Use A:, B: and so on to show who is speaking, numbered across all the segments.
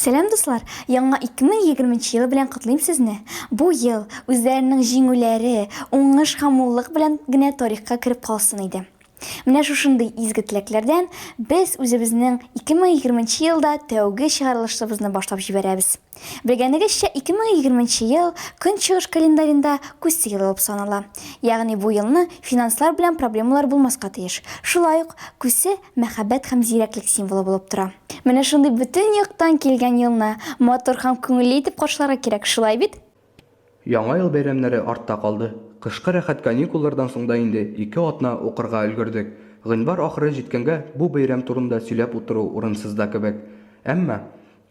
A: Сәлам дуслар! Яңа 2020 елы белән котлыйм сезне. Бу ел үзләренең җиңүләре, уңыш һәм муллык белән генә тарихка кереп калсын иде. Менә шушындый изге теләкләрдән без үзебезнең 2020 елда тәүге чыгарылышыбызны башлап җибәрәбез. Белгәнегезчә, 2020 нче ел Көнчыгыш календаренда Күсе елы булып санала. Ягъни бу елны финанслар белән проблемалар булмаска тиеш. Шулай ук, Күсе, мәхәббәт һәм зирәклек символы булып тора. Менә шундый бөтен яктан килгән елны матур һәм күңелле итеп каршыларга кирәк, шулай бит? Яңа ел
B: бәйрәмнәре артта калды. Кышкы рәхәт каникуллардан соң да инде ике атна укырга өлгердек. Гыйнвар ахыры җиткәнгә бу бәйрәм турында сөйләп утыру урынсыз да кебек. Әмма.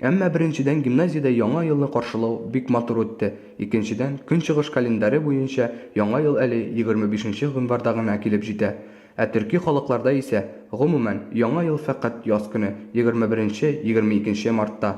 B: Әмма беренчедән гимназиядә Яңа елны каршылау бик матур үтте, икенчедән, көнчыгыш календаре буенча Яңа ел әле егерме бишенче гыйнварда гына килеп җитә. Ә төрки халыкларда исә, гомумән, Яңа ел фәкать яз көне, егерме беренче, егерме икенче мартта.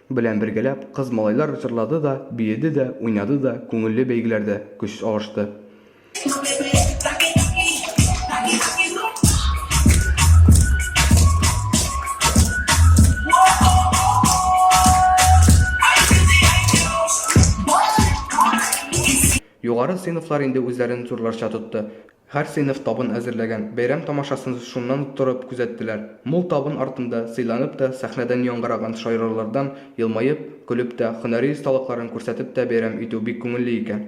B: Белән бергәләп кыз-малайлар җырлады да, биеде дә, уйнады да, күңелле бәйгеләрдә көч алышты. Югары сыйныфлар инде үзләрен зурларча тотты. Һәр сыйныф табын әзерләгән, бәйрәм тамашасын шуннан торып күзәттеләр. Мул табын артында, сыйланып та, сәхнәдән яңгыраган шаярулардан елмаеп, көлеп тә, һөнәри осталыкларын күрсәтеп тә бәйрәм итү бик күңелле икән.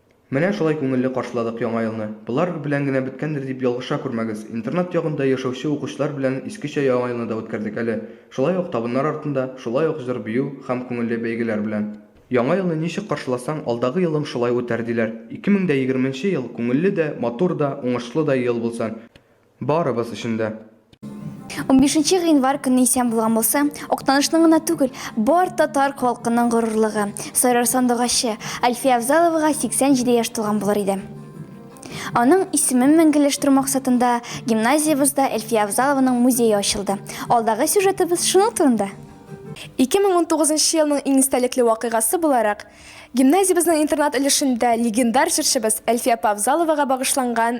B: Менә шулай күңелле каршыладык Яңа елны. Болар белән генә беткәндер дип ялгыша күрмәгез. Интернат ягында яшәүче укучылар белән искечә Яңа елны да үткәрдек әле. Шулай ук табыннар артында, шулай ук җыр-бию һәм күңелле бәйгеләр белән. Яңа елны ничек каршыласаң, алдагы елың шулай үтәр, диләр. Ике мең дә егерменче ел күңелле дә, матур да, уңышлы да ел булсын! Барыбыз өчен дә. Унбишенче
A: гыйнвар көне исән булган булса, Актанышның гына түгел, бар татар халкының горурлыгы, Сарыр сандугачы, Альфия Авзаловага 87 яшь тулган булыр иде. Аның исемен мәңгеләштерү максатында гимназиябездә Әлфия Авзалованың музее ачылды. Алдагы сюжетыбыз шуның турында. 2019
C: нчы елның иң истәлекле вакыйгасы буларак, гимназиябезнең интернат өлешендә легендар җырчыбыз Әлфия апа Авзаловага багышланган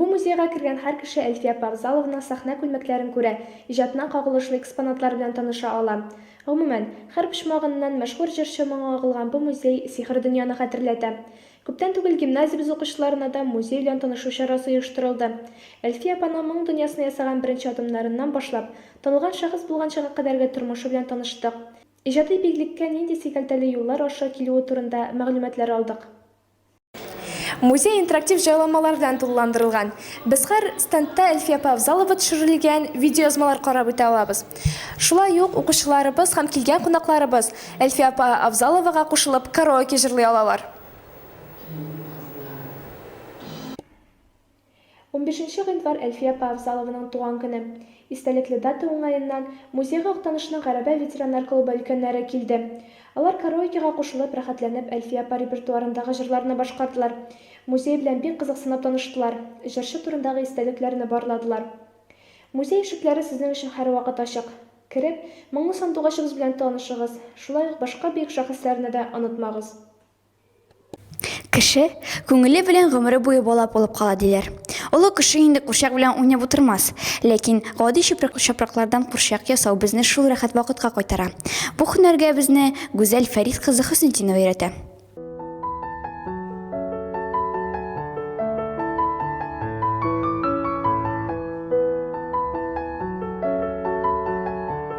D: Бу
E: музейга кергән һәр кеше Әлфия апа Авзаловна сәхнә күлмәкләрен күрә, иҗатына кагылышлы экспонатлар белән таныша ала. Гомумән, һәр почмагыннан мәшһүр җырчы моңы агылган бу музей сихри дөньяны хәтерләтә. Күптән түгел гимназиябез укучыларына да музей белән танышу чарасы оештырылды. Әлфия апаның моң дөньясына ясаган беренче адымнарыннан башлап, танылган шәхес булганчыга кадәрге тормышы белән таныштык. Иҗади биеклеккә нинди сикәлтәле юллар аша килүе турында мәгълүматлар алдык. Музей
C: интерактив җайламалар белән тулыландырылган. Без хәр стендта Әлфия апа Авзалова төшерелгән видеоязмалар карап үтә алабыз. Шулай ук укучыларыбыз һәм килгән кунакларыбыз Әлфия апа Авзаловага кушылып караоке җырлый алалар.
E: Унбишенче гыйнвар Әлфия апа Авзалованың туган көне. Истәлекле дата уңаеннан, музейга Актанышның Гәрәбә ветераннар клубы өлкәннәре килде. Алар караокега кушылып, рәхәтләнеп Әлфия апа репертуарындагы җырларны башкардылар. Музей белән бик кызыксынып таныштылар, җырчы турындагы истәлекләрне барладылар. Музей ишекләре сезнең өчен һәрвакыт ачык. Кереп, моңлы сандугачыбыз белән танышыгыз, шулай ук башка бөек шәхесләрне дә онытмагыз. Кеше
A: күңеле белән гомере буе бала булып кала, диләр. Олы кеше инде курчак белән уйнап утырмас. Ләкин гади чүпрәк-чапраклардан курчак ясау безне шул рәхәт вакытка кайтара. Бу һөнәргә безне Гүзәл Фәрит кызы Хөснетдинова өйрәтә.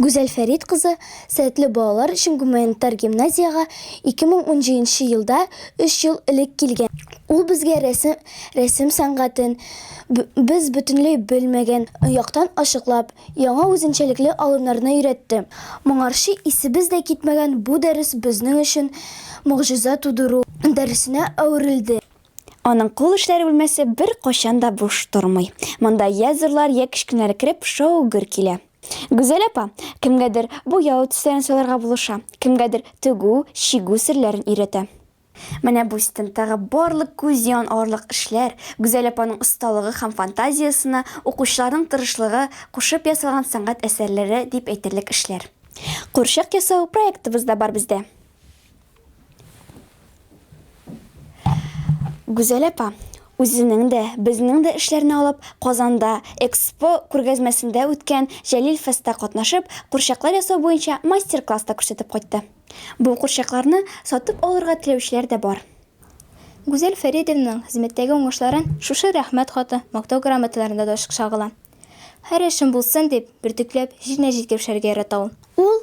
A: Гүзәл Фәрит кызы сәләтле балалар өчен гуманитар гимназиягә 2017 елда, өч ел элек килгән. Ул безгә рәсем сәнгатен, без бөтенләй белмәгән яктан ачыклап, яңа үзенчәлекле алымнарны өйрәтте. Моңарчы исебез дә китмәгән бу дәрес безнең өчен могҗиза тудыру дәресенә әверелде. Аның кул эшләре бүлмәсе беркайчан да буш тормый. Монда йә зурлар, йә кечкенәләр кереп, шау-гөр килә. Гүзәл апа кемгәдер буяу төсләрен сайларга булыша, кемгәдер тегү, чигү серләрен өйрәтә. Менә бу стендтагы барлык күз ян алырлык эшләр, Гүзәл апаның осталыгы һәм фантазиясенә, укучыларның тырышлыгы кушып ясалган сәнгать әсәрләре дип әйтерлек эшләр. Курчак ясау проектыбыз да бар бездә. Гүзәл апа, үзенең дә, безнең дә эшләрне алып, Казанда Экспо күргәзмәсендә үткән Җәлил фестта катнашып, курчаклар ясау буенча мастер-класс та күрсәтеп кайтты. Бу курчакларны сатып алырга теләүчеләр дә бар. Гүзәл
F: Фәридовнаның хезмәттәге уңышларын шушы Рәхмәт хаты, Мактау грамоталарында да ачык чагыла. Һәр эшем булсын дип, бөртекләп, җиренә җиткереп эшләргә ярата ул. Ул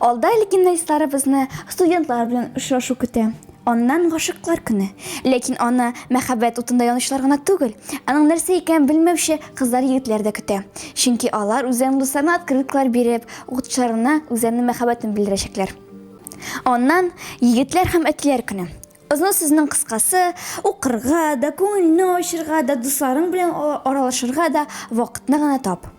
A: Алда легендаистларыбызны студентлар белән очрашу көтә. Аннан гашыклар көне. Ләкин аны мәхәббәт утында янучылар гына түгел, аның нәрсә икәнен белмәүче кызлар-егетләр дә көтә. Чөнки алар үзләренең дусларына открыткалар биреп, укытучыларына үзләренең мәхәббәтен белдерәчәкләр. Аннан егетләр һәм әтиләр көне. Озын сүзнең кыскасы, укырга да, күңелне ачырга да, дусларың белән аралашырга да вакытны гына тап.